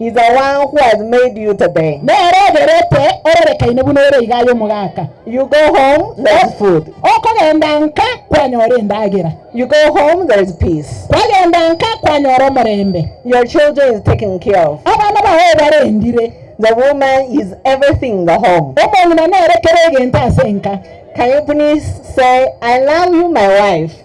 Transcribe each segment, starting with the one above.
is the one who has made you today. Nere ogerete ororekaine buna ore iga aye omogaka. You go home, there is food. Okogenda nka kwanyora endagera. You go home, there is peace. Kwagenda nka kwanyora omorembe. Your children is taken care of. Abana bao barendire. The woman is everything in the home. Omong'ina nere kera egento ase enka. Can you please say, I love you, my wife?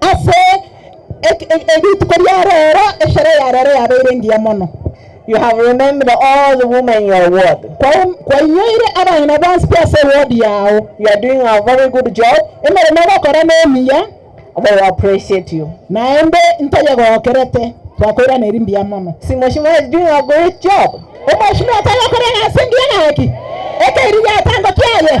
Ase rituko ria reero eshare ya reero yabeire engiya mono. You have remembered all the women in your ward. Kwainyoire abana bonsi pi ase ewodi yao. You are doing a very good job. Emeremo ogokora nemiya. They will appreciate you. Naende ntoyegokerete, twakoirana eri mbuya mono. See, Mheshimiwa is doing a great job. Omweshimiwa toyokora egasi engiya gaki. Ekeiriri atango kiaye.